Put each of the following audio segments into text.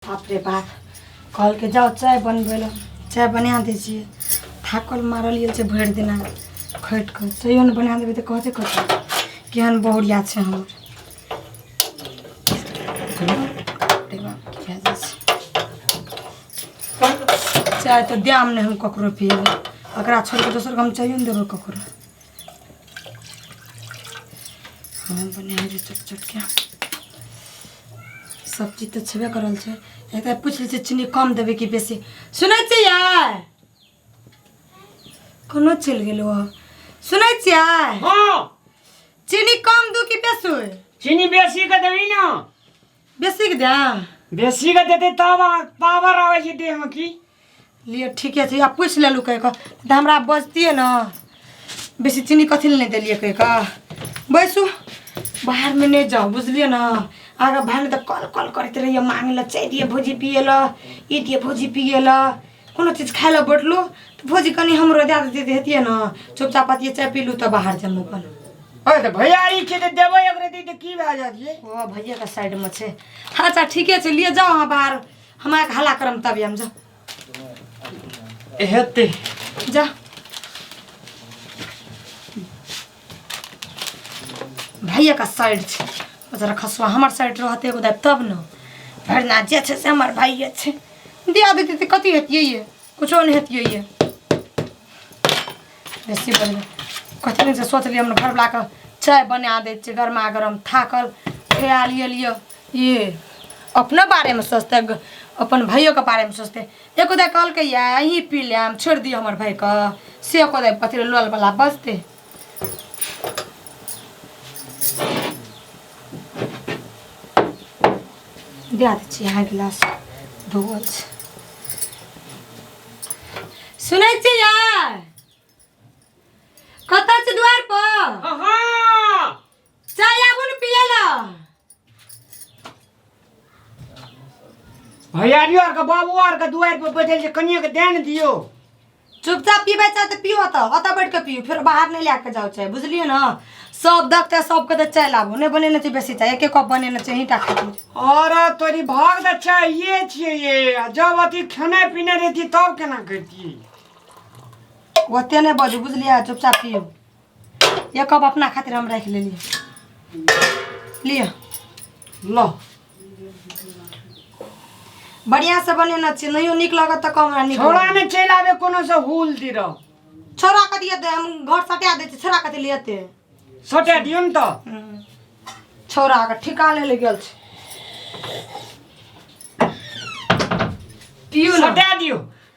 बाप रे बाप कहलकै जाउ चाय बनबै लए चाय बना दै छियै थाकल मारल गेल छै भरि दिना खटि कऽ तैयो ने बना देबै तऽ कहतै कथी केहन बहुरिया छै हमर बाप रे बाप की भए जाइ छै चाय तऽ द्याम नहि हम ककरो पियेबै ओकरा छोड़ि कऽ दोसर हम चाहियो ने देबै ककरो हम बने जे छोट छोट के सब चीज तो छेबे करल छै एक बार पूछ लीजिए चीनी कम देवे कि बेसी सुनै छियै कोनो चलि गेल ओ सुनै छियै हाँ चीनी कम दू कि बेसी चीनी बेसी के देवी ना बेसी के दाम बेसी के देते तब अहाँ पावर आवे छै देह में की लिए ठीके छै आब पूछि लेलू कहि कऽ तऽ हमरा बजतियै ने बेसी चीनी कथी लए नहि देलियै कहि कऽ बैसू बाहरमे नहि जाउ बुझलियै ने आगाँ भाय तऽ कल कल करैत रहियै मांगे लए चाय दिए भौजी पिए लए ई दिए भौजी पिए लए कोनो चीज खाय लए बैठलहुँ तऽ भौजी कनि हमरो दए देतियै तऽ हेतियै ने चुपचाप पतिये चाय पीलहुँ तऽ बाहर जमू अपन अरे तऽ भैया ई छै तऽ देबै एक रति तऽ की भए जायत ये ओ भैया के साइड में छै हाँ अच्छा ठीके छै लिए जाओ अहाँ बाहर हमरा के हल्ला करम तब हम जा हेतै जा भैया का साइड छै जरा खसुआ हमर साइड रहते एगो दाब तब न भरि ना जे छै से हमर भाइये छै दिया देते तऽ कथी हेतियै ये कुछो नहि हेतियै ये बेसी बढ़ गेल कथी दिन से सोचलियै हमरा घरवलाके चाय बना दै छियै गरमा गरम थाकल खिया लियलियै ये अपना बारे में सोचते ग- अपन भाइयों के बारे में सोचते एको दे कॉल के या ही पी ले हम छोड़ दियो हमर भाई का से एको दे पति लोल वाला बजते दिया दे छी यहाँ गिलास धोवल छै सुनै छी यार कतऽ छी द्वार पर अहाँ चाय आबू ने पिए लऽ भैयारियो आरके बाबू आरके दुआरि पर बैठल छै कनिए के ध्यान दियौ चुपचाप पीबै चाहे तऽ पियो ओतऽ ओतऽ बैठ कऽ पियो फेर बाहर नहि लए कऽ जाउ चाहे बुझलियै ने सब देखते सबके तऽ चाय लाबू नहि बनेने छै बेसी चाय एके कप बनेने छै अहीं टा खातिर अरे तोरी भाग तऽ चाहिए छियै ये आ जब अथी खेनाइ पिनाइ रहती तब केना करती ओते नहि बजू बुझलियै चुपचाप पियो ये कप अपना खातिर हम रख लेली लियो लो बढ़िया से बने न छी नहियो नीक लगत त कम नीक छोड़ा लगत। में चल आवे कोनो से हुल दी रहो छोरा के दिए दे हम घर सटा दे छी छोरा के दिए लेते सोटे दियो न तो छोरा के ठिका ले ले गेल छी पियो न सोटे दियो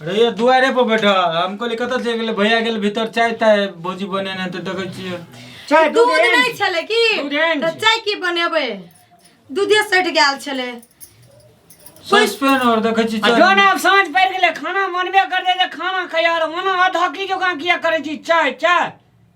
अरे ये दुआरे पर बैठा हम कहली कतऽ चलि गेलै भैया गेल भीतर चाय ताय भौजी बनेने तऽ देखै छियै चाय दूध दूध एहन नहि छलै की दूध एहन तऽ छै। चाय की बनेबै दूधे सटि गेल छलै सस्पेन और देखै छी आ चाय। जौन आब साँझ पड़ि गेलै खाना मनबे करतै जे खाना खैया रह ओना अधहकी जकाँ किया करै छी चाय चाय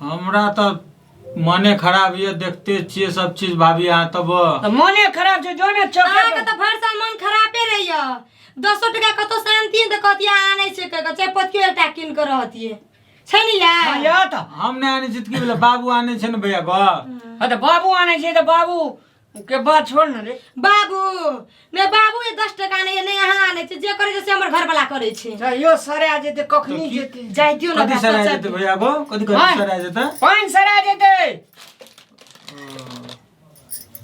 हमरा तऽ मने खराब ये देखते छियै सब चीज भाभी अहाँ तब तऽ मोने खराब छै जो ने चौके अहाँके पर। तऽ भरि साल मन खरापे रहैया दसो टका कतौ शान्ति तऽ कहतियै आनै छै कहि कऽ चाहे पतियो एकटा कीन कऽ रहतियै छै ने हाँ, यार या तऽ हम नहि आनै छी तऽ की भेलै बाबू आनै छै ने भैया घर हाँ तऽ बाबू आनै छै तऽ बाबू के बात छोड़ ना रे बाबू ने बाबू ये दस टका नहीं है नहीं यहाँ आने छे जे करे जैसे हमर घर वाला करे छे जाइयो सरे आ जेते कखनी तो की- जेते जाय दियो ना कथी सर आ बच्चा जेतै भैया गो कथी कथी हँ। सर आ जेतै पाँच सरे आ जेते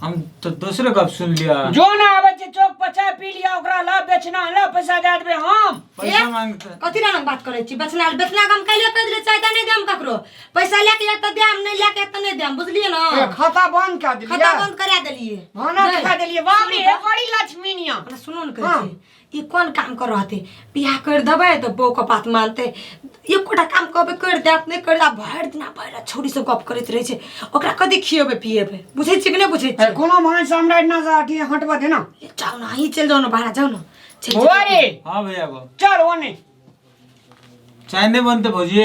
हम तो दोसरे गप सुन लिया जो ना आवे छे चौक पर चाय पी लिया ओकरा ला बेचना ला पैसा दे देबे हम पैसा ए? मांगते कथी ना बात करे छी बचना बचना गम कैले कह दिले चाहता नहीं दे हम ककरो पैसा लेके जाए तो देम नहीं लेके तो नहीं देम बुझलिए ना ए, खाता बंद कर दिलिए खाता बंद करा देलिए भाना नहीं। खा दिलिए बाप रे बड़ी लक्ष्मी निया अपना सुनो न हाँ। कहते ई कोन काम कर रहते बियाह कर देबै तऽ बौ के बात मानते एकोटा काम कहबै कर देत नहि कर देत भरि दिना भरि छोरी सब गप करैत रहै छै ओकरा कथी खियेबै पियेबै बुझै छियै कि नहि बुझै ए, छियै कोनो भान सामने ना जा अथी हटबा देना ए, जाउ ने अहीं चलि जाउ ने बाहर जाउ ने चलि जाउ। भोरे हाँ भैया को चल ओने चाय नहीं बनते भौजी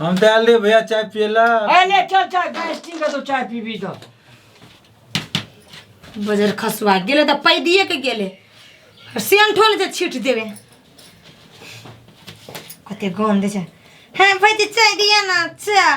हम तो आल रहे भैया चाय पियला अरे चल चाय गैस ठीक है तो चाय पी भी तो बजर खसवा गेले तऽ पैदिए के गेले सेन ठोल जे छीट देबे कते गंध छै हे भाई चाय दिया ना चाय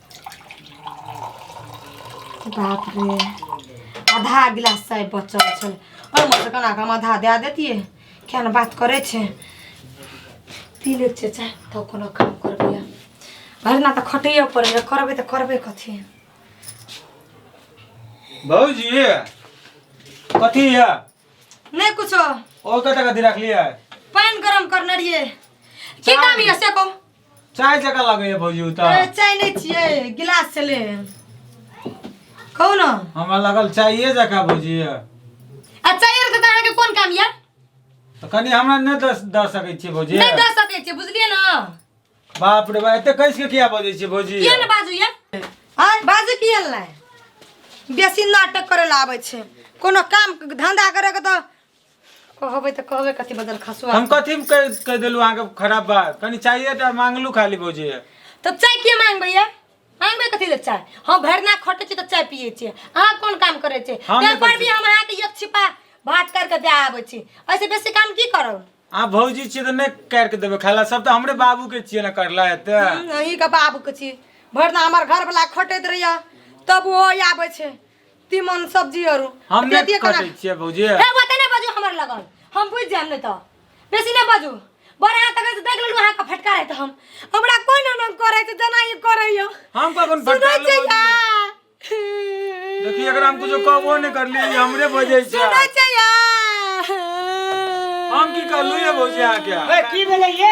बाप रे आधा गिलास चाय बचल छल ओहिमे से केना कऽ हम आधा दए देतियै किया ने बात करै छै पी लै छै चाय तब कोनो काम करबै आब। भरि दिना तऽ खटैए पड़ैए करबै तऽ करबै कथी भौजी कथी है नहि कुछो ओ कतऽ कथी रखलियै पानि गरम करने रहियै की काम यऽ से कहू चाय जका लगैए भौजी ओ अरे तऽ चाय नहीं चाहिए गिलास से ले कहू ना हमरा लगल चाइए जका भौजी यऽ। आ चाय रख देता के कौन काम यार तऽ कनि हमरा नहि दऽ दऽ सकै छियै भौजी नहीं दे सके छे बुझलिए ना बाप रे बा एते कैस के किया बजै छियै भौजी किया ना बाजू यार हां बाजू किया ला बेसी नाटक करे ला आवे छे कोनो काम धंधा करे के तो कहबै तऽ कहबै कथी बदल खसुआ हम कथी में कह कह देलू अहाँ के खराब बात कनी चाहिए टा मांगलू खाली भौजी तो चाय किए मांगबै या मांगबै कथी ले चाय हम भरना खटे छी तऽ चाय पिए छी अहाँ कोन काम करे छी हम नहि पेपर करै भी छी। हम अहाँ के एक छिपा भात कर के दे आबै छी ऐसे बेसी काम की करब अहाँ भौजी छियै तऽ नहि कर के देबै खाला सब तऽ हमरे बाबू के छियै ना करला एते अही के बाबू के छी भरना हमर घर वाला खटैत रहैया तब ओहो आबै छै तीमन सब्जी आरो हम अपने दिए नहीं खाना कटे छिए भौजी ए बात नहीं बाजू हमर लगन हम बुझ जाम नहीं तो बेसी नहीं बाजू बड़ा हाथ तक देख लेलू हाथ का फटका रहे तो हम हमरा कोई ना ना करे तो जना ही करे यो हम कखन सुनै फटकार छै लेबो या जी। देखी एकरा हम कुछो कहबो नहीं करली ई हमरे बजे छै सुनै छै या हम की कहलू ये भौजी अहाँ के ए, की भेलै ये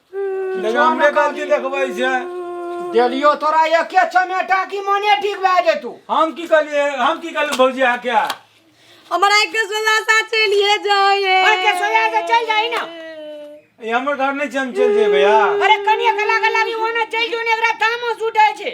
हमरे गलती देखबै छै देलियो तोरा एके चमेटा की मने ठीक भए जेतू हम की कहलिए हम की कहलिए भौजी आ क्या हमरा के सोला सा चलिए जाए ओए के सोला सा चल जाई ना ये हमर घर नहीं चल चल जे भैया अरे कनिया के लागे लागी ओना चल जो ने एकरा तामस उठे छै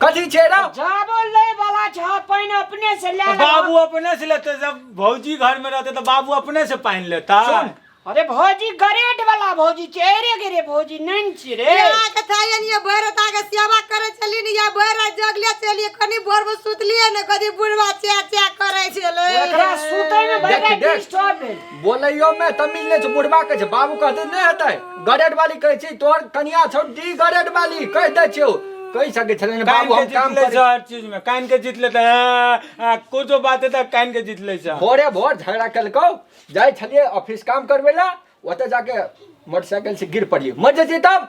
कथी छै रे जाबो लै वाला छ पाइन अपने से ले ले बाबू अपने से लेते जब भौजी घर में रहते तो बाबू अपने से पानी लेता सुन। अरे भौजी गरेट वाला भौजी छै अरे गेरे भौजी नैन छी रे यहाँ के चाहिए नहीं, ये भैर उठा के सेवा करे चली नहीं या भैर रात जगले चली कनी भोर में सुतलिए ने कदी बुढ़वा च्या च्या करे चले एकरा सुतै में देख, भैया देख। डिस्टर्ब भेल बोलैयो में तमिल नहीं छै बुढ़बा कहे छै बाबू कहते नहीं हेतै गरेट वाली कहे छी तोर कनिया छौ डी गरेट वाली कह दे छियो कहि सके छले ने कान बाबू के हम जीत काम ले करै जा हर चीज में कान के जीत लेते हैं कुछो बात है तो कान के जीत ले जा भोरे भोर झगड़ा केलकौ जाइ छलिए ऑफिस काम करबै ला ओतऽ जाके मोटरसाइकिल से गिर पड़िए मर जेतै तब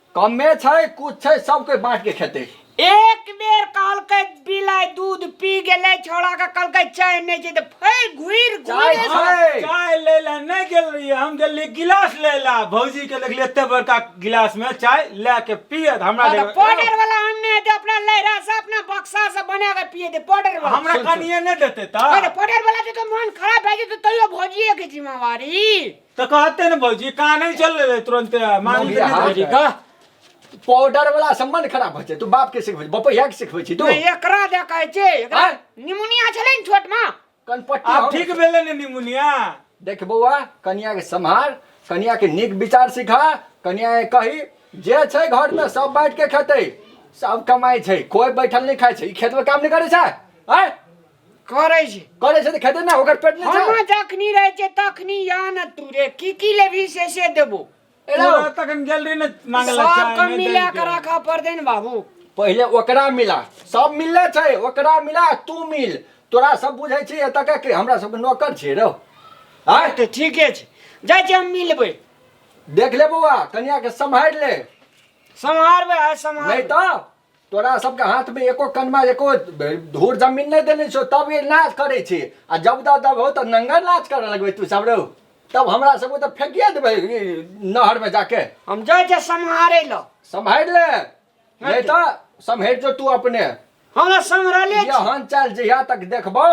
कमे छै कुछ छै सब कोई बांट के खेते एक बेर कहलकै बिलाइ दूध पी गेलै छोड़ा के कहलकै चाय नहि छै तऽ फै घुर चाय घुर छै। चाय ले ला नहीं गेल रहिए हम गेल रहिए गिलास ले ला भौजी के देखलिए एते बड़का गिलास में चाय ला के पिए त हमरा देखलिए, पाउडर वाला आनने हेतै अपना लहरा से अपना बक्सा से बना के पिए दे पाउडर वाला हमरा सुन, सुन। कनिए नहीं देते अरे त पाउडर वाला के तो मन खराब भए जेतै तैयो भौजिए के जिम्मेवारी तो कहते ना भौजी कहा नहीं चल रहे तुरंत मांग मौगी लेते हाथ। ना। का पाउडर वाला सम्मान खराब होइ छै तू बाप के सिखबै बपैया के सिखबै छी तू तो एकरा दे कहै छै एकरा आँय? निमोनिया छलै ने छोट में कनपट्टी आप हम- ठीक भेले ने निमुनिया देख बौआ कनिया के सम्हार कनिया के नीक विचार सिखा कनिया के कही जे छै घर में सब बैठ के खेतै सब कमाई छै कोई बैठल नहीं खाई छै ई खेत में काम नहीं करे छै आय करै छै करे छै तऽ खेते ना ओकर पेट नहीं हम छै जखनी रहै छै तखनी या न तू रे की की लेबही से से देबो एला पूरा तखन गेल रही ने मांगे ला चाय सबके नहि मिला देलकै। के रखा पड़तै ने बाबू पहिले ओकरा मिला सब मिलले छै ओकरा मिला तू मिल तोरा सब बुझै छी एतऽ के के हमरा सबके नौकर छियै रौ आय तऽ ठीके छै जाइ छी हम मिलबै देख ले बौआ कनिया के सम्हारि ले सम्हारबै आ सम्हार नहीं तो तोरा सबके हाथमे एको कनमा एको धूर जमीन नहि देने छौ तब ये नाच करै छी आ जब दा दब हो तऽ नंगर नाच करऽ लगबै तू सब रौ तब हमरा सबके तऽ फेकिए देबै ई नहरमे जाके हम जाइ छै सम्हारै लऽ सम्हारि ले नहि तऽ सम्हारि जो तू अपने हमरा सम्हरले छी यहन चल जहिया तक देखबौ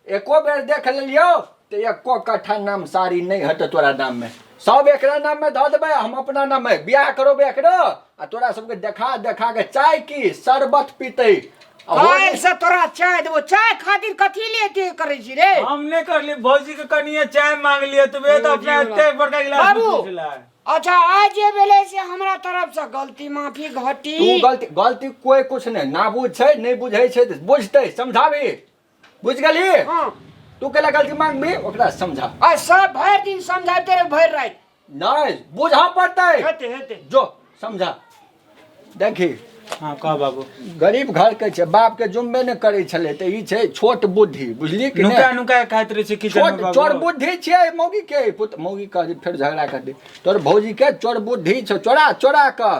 एको बेर देख लेलियो तो एको कट्ठा नाम सारी नहीं हट तोरा नाम में सब एक नाम में धो देवे हम अपना नाम में ब्याह करो एक आ तोरा सबके देखा देखा के चाय की शरबत पीते आयल से तोरा चाय देबो चाय खातिर कथी ले के करे छी रे हम ने करली भौजी के कनिए चाय मांग लिए तो वे तो अपना एते बड़का गिलास बाबू अच्छा आज जे भेले से हमरा तरफ से गलती माफी घटी तू गलती गलती कोई कुछ नहीं ना बुझ छै नहीं बुझै छै बुझते समझाबी बुझ गली हाँ तू केला गलती मांग में ओकरा समझा आ सब भर दिन समझाते रहे भर रात नहीं बुझा पड़ता है हेते हेते जो समझा देखी हाँ कह बाबू गरीब घर के छे बाप के जुम्मे ने करे छले ते ई छे छोट बुद्धि बुझली कि नुका नहीं नुका खाइत रहे छै किचन छोट में चोर बाबू बुद्धि छे मौगी के पुत मौगी कह दे फिर झगड़ा कर दे तोर भौजी के चोर बुद्धि छे चोरा चोरा कर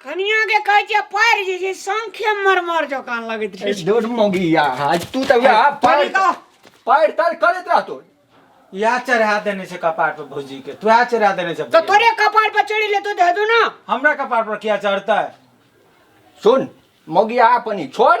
कनिया के कहै छै पैर जे छै संख्या मरमर जकाँ लगैत रहै छै डोड मोगिया आज तू तब या पैर कनिका पैर तर करत रहतो इएह चढ़ा देने छै कपार पर भौजी के तू इएह चढ़ा देने छै तो तोरे कपार पर चढ़ी ले तो दे दू ना हमरा कपार पर किया चढ़तै सुन मोगिया अपनी छोड़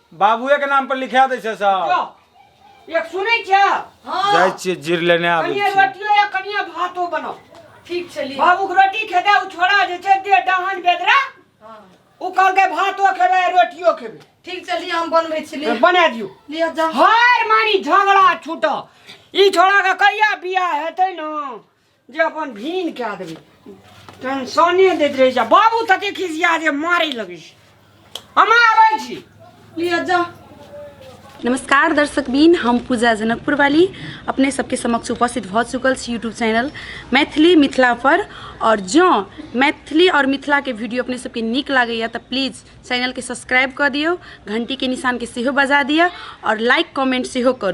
बाबुए के नाम पर लिखा दै छै सब जो एक सुनै छ हां जाइ छियै जीर लेने आबै कनिया छियै रोटियो या कनिया भातो बनाओ ठीक छै ली बाबू के रोटी खेते उ छोड़ा जे छै दे डहन बेदरा हाँ, उ कहलकै भातो खेबै रोटियो खेबै ठीक छै ली हम बनबै छी ली बना दियो लिअ जा हर मानी झगड़ा छूट ई छोड़ा के कहिया बियाह हेतै न जे अपन भीन कए देबै टेंशने दैत रहै छै बाबू तते खिसिया जे मारै लगै छै हम आबै छी लिअ जा नमस्कार दर्शक बीन हम पूजा जनकपुर वाली अपने सबके समक्ष उपस्थित भऽ चुकल छी यूट्यूब चैनल मैथिली मिथिला पर और जँ मैथिली और मिथिला के वीडियो अपने सबके नीक लागैए तऽ प्लीज चैनल के सब्सक्राइब कऽ दियौ घंटी के निशान के सेहो बजा दिअ और लाइक कमेंट सेहो करू